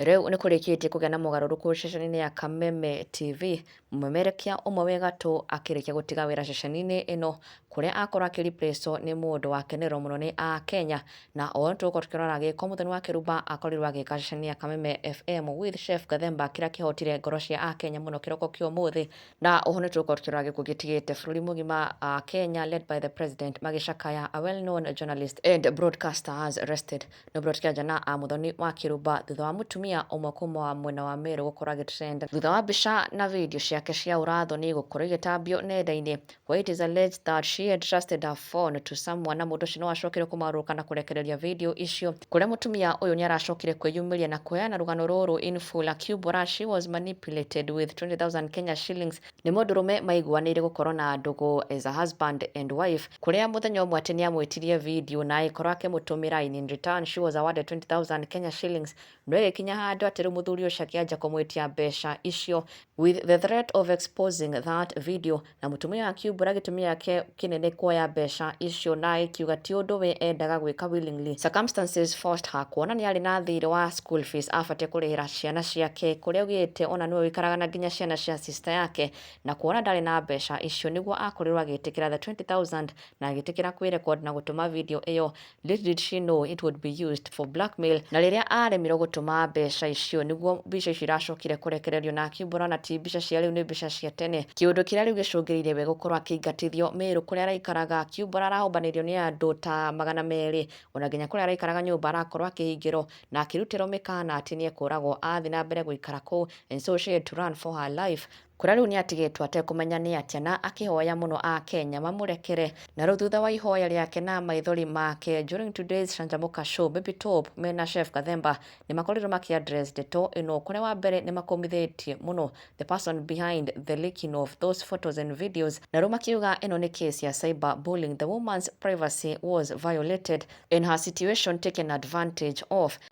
Rĩu nĩ kũrĩkĩtie kũgĩa na mogarũrũku ceceni-inĩ ya Kameme TV, mũmemerekia ũmwe wĩ gatũ akĩrĩkia gũtiga wĩra ceceni-inĩ ĩno, kũrĩa akorwo akĩ replaced nĩ mũndũ wakenererwo mũno nĩ Akenya, na o ũrĩa tũgũkorwo tũkĩrora gĩko Mũthoni wa Kĩrumba akorirwo agĩka ceceni ya Kameme FM with Chef Gathemba, kĩrĩa kĩhotire ngoro cia Akenya mũno kĩroko kĩa ũmũthĩ, na oho nĩ tũgũkorwo tũkĩrora gĩkuũ gĩtigĩte bũrũri mũgima Akenya led by the president magĩcakaya a well known journalist and broadcasters rested No Brot Kĩanja na a Mũthoni wa Kĩrumba thutha wa mũtumia ũmwe kuma mwena wa Meru gũkorwo agĩtrend thutha wa mbica na video ciake cia ũrathoni gũkorwo igĩtambio nenda-inĩ where it is alleged that she had trusted her phone to someone na mũndũ ũcio no acokire kũmarũrũka na kũrekereria video icio kũrĩa mũtumia ũyũ nĩ aracokire kwĩyumĩria na kũheana rũgano rũrũ in full akiumbũra she was manipulated with 20,000 Kenya shillings Nĩ mũndũrũme maiguanĩire gũkorwo na ndũgũ as a husband and wife kũrĩa mũthenya ũmwe atĩ nĩamwĩtirie video na agĩkorwo akĩmũtũmĩra and in return she was awarded 20,000 Kenya shillings no ĩgĩkinya handũ atĩ rĩu mũthuri ũcio akĩanjia kũmwĩtia mbeca icio with the threat of exposing that video na mũtumia ũyũ akiumbũra gĩtũmi gĩake kĩnene kuoya mbeca icio na akiuga ti ũndũ we endaga gwĩka willingly. Circumstances forced her kuona nĩ arĩ na thiirĩ wa school fees abatiĩ kũrĩhĩra ciana ciake kũrĩa augĩte ona nĩwe ũikaraga na nginya ciana cia sister yake na kuona ndarĩ na mbeca icio nĩguo akorirwo agĩtĩkĩra the 20,000 na agĩtĩkĩra kwĩ record na gũtũma video ĩyo Did she know it would be used for blackmail? Na rĩrĩa aaremirwo gũtũma mbeca icio, nĩguo mbica icio iracokire kũrekererio na akiumbũra na ti mbica cia rĩu nĩ mbica cia tene. Kĩũndũ kĩrĩa rĩu gĩcũngĩrĩire we gũkorwo akĩingatithio Meru kũrĩa araikaraga akiumbũra arahũmbanĩrio nĩ andũ ta magana merĩ ona nginya kũrĩa araikaraga nyũmba arakorwo akĩhingĩrwo na akĩrutĩrwo mĩkaana atĩ nĩekũragwo athiĩ na mbere gũikara kũu and so she had to run for her life Kura rĩu nĩatigĩtwo atekũmenya nĩatĩa na akĩhoya mũno Akenya mamũrekere. Na rĩu thutha wa ihoya rĩake na maithori make during today's Canjamũka Show, Baby Top mena Chef Gathemba nĩmakorirwo makĩ address ndeto ĩno kũrĩa wa mbere nĩmakũmithĩtie mũno the person behind the leaking of those photos and videos na rĩu makiuga ĩno nĩ case ya cyber bullying, the woman's privacy was violated and her situation taken advantage of.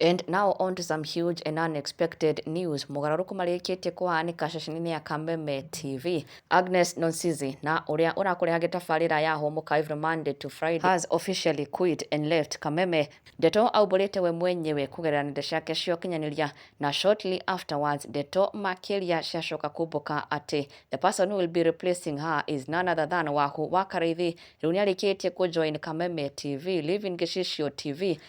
And now on to some huge and unexpected news. Mogarũrũku marĩkĩtie kũhanĩka ceceni-inĩ ya Kameme TV. Agnes Nonsizi na ũrĩa ũrakũrehage tabarĩra ya Hũmũka every Monday to Friday has officially quit and left Kameme. Ndeto aumbũrĩte we mwenyewe kũgerera nenda ciake cia ũkinyanĩria na shortly afterwards ndeto makĩria ciacoka kumbũka atĩ the person who will be replacing her is none other than Wahu wa Karaithi. Rĩu nĩarĩkĩtie kũjoin Kameme TV, leaving Gĩcicio TV